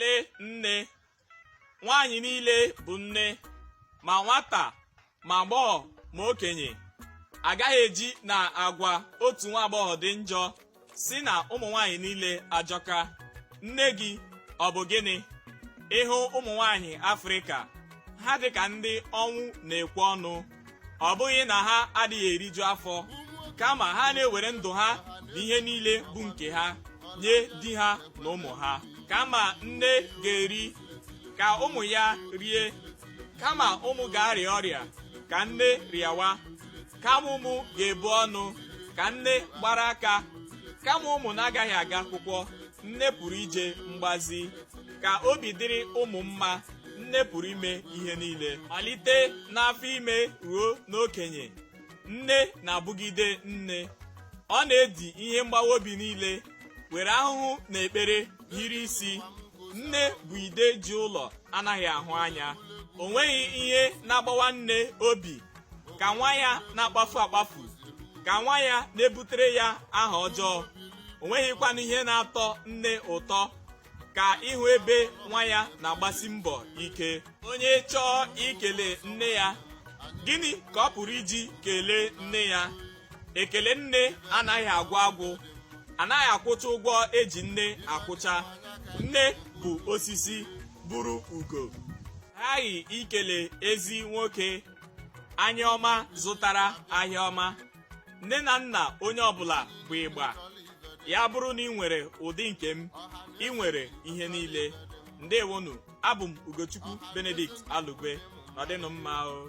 lee nne nwaanyị niile bụ nne ma nwata ma agbọghọ ma okenye agaghị eji na agwa otu nwa agbọghọ dị njọ sị na ụmụ nwaanyị niile ajọka nne gị ọ bụ gịnị ị hụ ụmụ nwaanyị afrịka ha dị ka ndị ọnwụ na-ekwe ọnụ ọ bụghị na ha adịghị eriju afọ kama ha na-ewere ndụ ha na ihe niile bụ nke ha nye di ha na ụmụ ha kama nne ga-eri ka ụmụ ya rie kama ụmụ ga-arịa ọrịa ka nne rịawa kama ụmụ ga-ebu ọnụ ka nne gbara aka kama ụmụ na-agaghị aga akwụkwọ nne pụrụ ije mgbazi ka obi dịrị ụmụ mma nne pụrụ ime ihe niile malite n'afọ ime ruo n'okenye nne na-abụgide nne ọ na-edi ihe mgbawa obi niile were ahụhụ na ekpere hiri isi nne bụ ide ji ụlọ anaghị ahụ anya o nweghị ihe na-agbawa nne obi ka nwa ya na-akpafu akpafu ka nwa ya na-ebutere ya aha ọjọọ o nweghịkwanụ ihe na-atọ nne ụtọ ka ịhụ ebe nwa ya na-agbasi mbọ ike onye chọọ ikele nne ya gịnị ka ọ pụrụ iji kelee nne ya ekele nne anaghị agwụ agwụ anaghị akwụcha ụgwọ eji nne akwụcha nne bụ osisi bụrụ ugo aghaghị ikele ezi nwoke anya ọma zụtara ahịa ọma nne na nna onye ọbụla bụ ịgba ya bụrụ na i nwere ụdị nke m i nwere ihe niile ndewonụ abụ m ugochukwu benedict alugwe nọdịnụ mma o